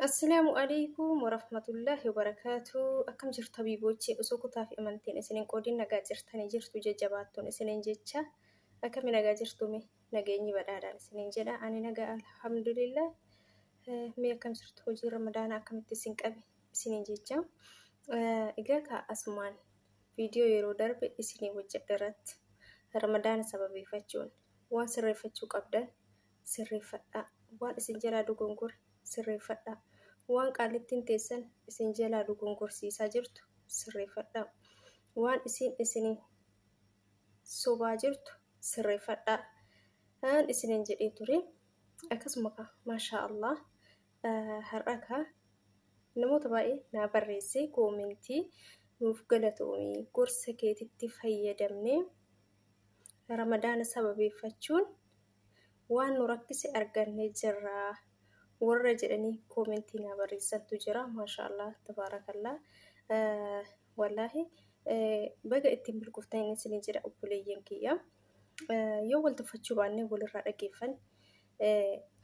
Assalaamu alaikum warahmatullahi wabarakatuh. Akkam jirtu habiiboochee osoo kutaa fi amantiin isin hin qoodin nagaa jirtanii jirtu jajjabaattuun isiniin jecha akkami nagaa jirtume nageenyi badhaadhaan isiniin jedha ani nagaa alhamdulillah Eh, mee akkam jirtu hojii ramadaanaa akkamitti isin qabe isiniin jecha Eh, egaa kaa asumaan viidiyoo yeroo darbe isinii hojjedhe irratti ramadaana sababeeffachuun waan sirreeffachuu qabdan sirreeffadhaa. Waan isin jalaa dogongore sirreeffadhaa. Waan qaallittiin teessan isin jalaa dogongorsiisaa jirtu sirreeffadhaa. Waan isiin isiniin sobaa jirtu sirreeffadhaa. Aan isiniin jedhee ture. Akkasuma kaa maashaa Allah har'a kaa namoota baay'ee naa barreessee koomentii nuuf galatoomii gorsa keetitti fayyadamnee ramadaana sababeeffachuun waan nu rakkise arganne jirra warra jedhanii koomentii naa barreessantu jira maashaallah tabaarakallaa wallaahi baga ittiin milkooftan isin jedha obboleeyyan kiyya yoo wal tuffachuu baannee walirraa dhageeffan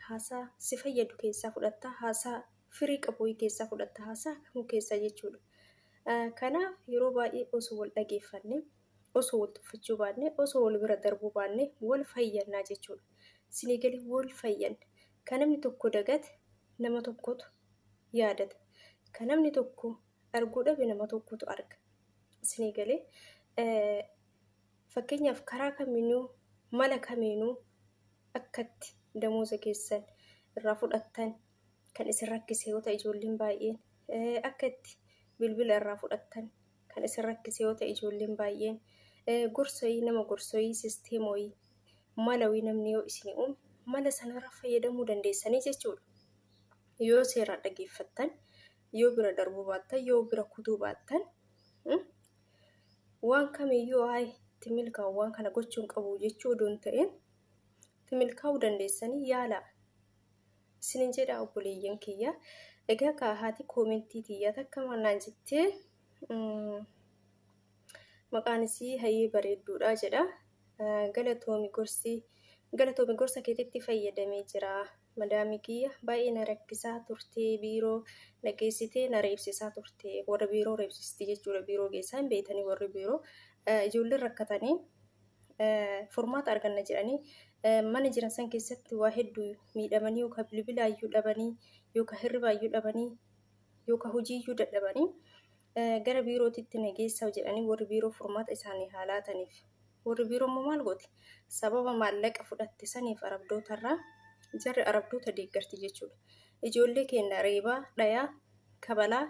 haasaa si fayyadu keessaa fudhatta haasaa firii qabu keessaa fudhatta haasaa kamuu keessaa jechuudha kanaaf yeroo baay'ee osoo wal dhageeffanne osoo wal tuffachuu baanne osoo wal bira darbuu baanne wal fayyannaa jechuudha. Sinii galee wal fayyanna. Kan namni tokko dagate nama tokkotu yaadata. Kan namni tokko arguu dhabe nama tokkotu arga. Sinii galee fakkeenyaaf karaa kamiinuu mala kamiinuu akkatti damooza keessan irraa fudhattan kan isin rakkise yoo ta'e ijoolleen baay'een akka itti bilbila irraa fudhattan kan isin rakkise yoo ta'e ijoolleen baay'een gorsoyii nama gorsoyii sisteemoyii malawii namni yoo isin uume mala sanarra fayyadamuu dandeessanii jechuudha. Yoo seeraa dhageeffattan yoo bira darbuu baattan yoo bira kutuu baattan waan kamiyyuu haay itti milkaa'u waan kana gochuun qabu jechuu odoo hin ta'in itti milkaa'uu dandeessanii yaalaa isinin jedha obboleeyyan kiyya egaa kaa haati koomentii tiyya takka maal naan jettee maqaan isii hayee bareedduudha jedha galatoomi gorsi galatoomi gorsa keetitti fayyadamee jira Madaami kiyya baay'ee na rakkisaa turte biiroo na geessitee na reebsisaa turte warra biiroo reebsisti jechuudha biiroo geessaa hin beektanii warri biiroo ijoolleen rakkatanii furmaata arganna jedhanii mana jiran san keessatti waa hedduu miidhamanii yookaan bilbilaayyuu dhabanii yookaan hirribaayyuu dhabanii yookaan hojiiyyuu dadhabanii Gara biirootitti na geessaa jedhanii warri biiroo furmaata isaanii haa laataniif. Warri biiroo immoo maal gooti? Sababa maallaqa fudhatte saniif arabdootarraa jarri arabdoota deeggarti jechuudha. Ijoollee keenya reebaa, dhayaa, kabalaa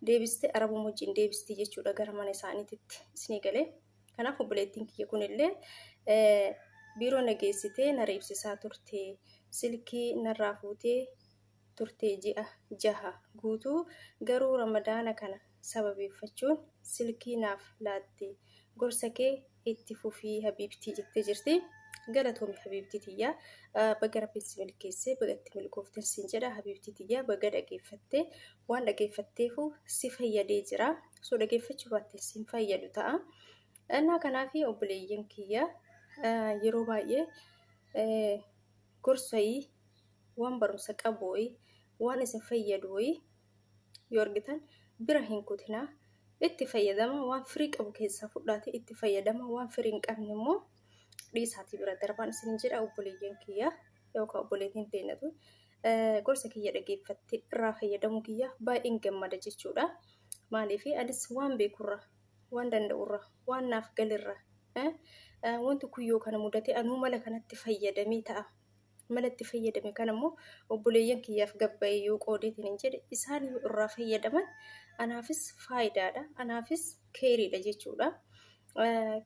deebistee arabuma wajjin deebistii jechuudha gara mana isaaniititti isinii galee. Kanaaf obboleettiin kiyya kunillee biiroo na geessitee na reebsisaa turte silkii narraa fuutee turte ji'a jaha guutuu garuu ramadaana kana sababeeffachuun silkii naaf laatte gorsa kee itti fufii habiibtii jettee jirti galatoomi habiibtii tiyya baga rabbiin si milkeesse baga itti milkooften siin jedha habiibtii tiyya baga dhageeffatte waan dhageeffatteefu si fayyadee jira osoo dhageeffachuu baatte siin fayyadu ta'a innaa kanaafi obboleeyyan kiyya yeroo baay'ee gorsayii waan barumsa qabu wayii waan isin fayyadu wayii yoo argitan bira hin kutinaa itti fayyadama waan firii qabu keessaa fudhaati itti fayyadama waan firii hin qabne immoo dhiisaatii bira darbaan isin jedha obboleeyyan kiyya yookaan obboleetiin teenyatu gorsa kiyya dhageeffattee irraa fayyadamuu kiyyaaf baay'een gammada jechuudha. Maaliif anis waan beekurra waan danda'urra waan naaf galirra wanti kun yoo kana mudatee anuu mala kanatti fayyadamee ta'a mala itti fayyadame kan ammoo obboleeyyan kiyyaaf gabbayee yoo qoodeetiin hin jedhe isaan yoo irraa fayyadaman anaafis faayidaadha anaafis keeriidha jechuudha.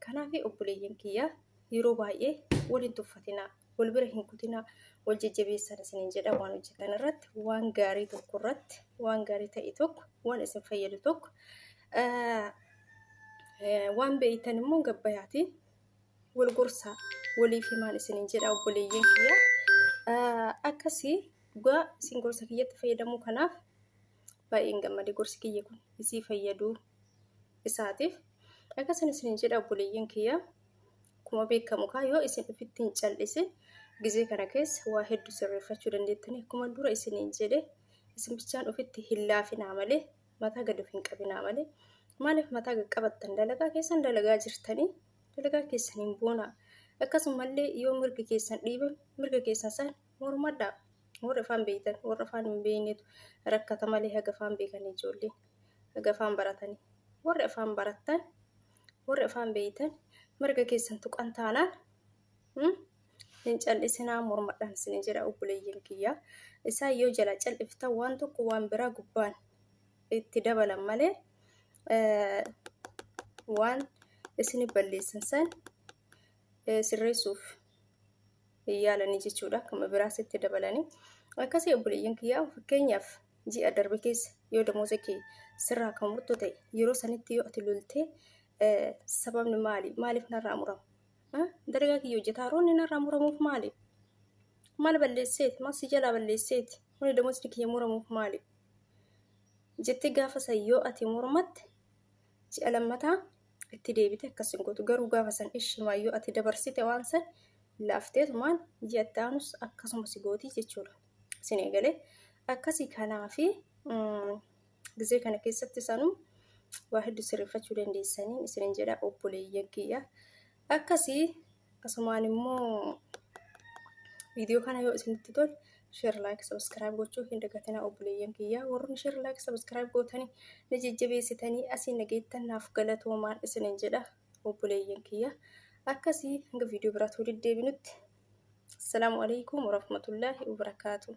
Kanaaf obboleeyyan kiyyaa yeroo baay'ee wal hin tuffatinaa wal bira hin kutinaa wal jajjabeessan isiniin jedha waan hojjetan irratti waan gaarii tokko irratti waan gaarii ta'e tokko waan isin fayyadu tokko waan beeytan immoo gabbayaatiin wal gorsaa waliif himaan isiniin jedha obboleeyyan kiyya akkasii dhugaa isin gorsa kiyyatti fayyadamuu kanaaf baay'een gammade gorsi kiyya kun isii fayyaduu isaatiif akkasan isiniin jedha obboleeyyan kiyya akkuma beekamu kaa yoo isin ofitti hin cal'isin gizee kana keessa waa hedduu sirreeffachuu dandeettanii akkuma dura isiniin jedhe isin bichaan ofitti hin laafinaa malee mataa gad of hin qabinaa malee maaliif mataa gad qabattan dalagaa keessan dalagaa jirtanii dalagaa keessaniin boonaa. Akkasumallee yoo mirgi keessan dhiibame mirga keessan san mormadhaa. Warri afaan beektan warra afaan hin beeknetu rakkata malee haga afaan beekan ijoolleen haga afaan baratanii. Warri afaan barattan warri afaan beektan mirga keessan tuqan taanaan hin cal'isinaa mormadhaan isin jedha obboleeyyan kiyyaa. Isaan yoo jala cal'iftan waan tokko waan biraa gubbaan itti dabalan malee waan isin balleessan san sirreessuuf yaalanii jechuudha akkuma biraas itti dabalanii akkasii obboleeyyan kiyyaa fakkeenyaaf ji'a darbe keessa yoo damooza kee sirraa kan murtu ta'e yeroo sanitti yoo ati loltee sababni maali maaliif narraa muramu dalagaa kiyya hojjetaa roonni narraa muramuuf maali maal balleesseeti maal si jalaa balleesseeti huni damoosni kiyya muramuuf maali jettee gaafa san yoo ati mormatte ji'a lammataa itti deebite akkas hin gootu garuu gaafa san ishimaa yoo ati dabarsite waan san laafteetumaan ji'a itti aanus akkasuma si gootii jechuudha isin eegalee akkasii kanaa fi gizee kana keessatti sanuu waa hedduu sirreeffachuu dandeessanii isinin jedha obboleeyyan kiyya Akkasi asumaan immoo viidiyoo kana yoo isinitti tole sheer laayik sabiskiraayib gochuu hin dagatinaa obboleeyyan kiyyaa warri sheer laayik sabiskiraayib gootanii na jajjabeessitanii asii na geettan naaf galatoomaa isinin jedha obboleeyyan kiyyaa akkasii hanga viidiyoo biraatti walitti deebinutti assalaamu alaikum warahmatullaahi wabarakaatuh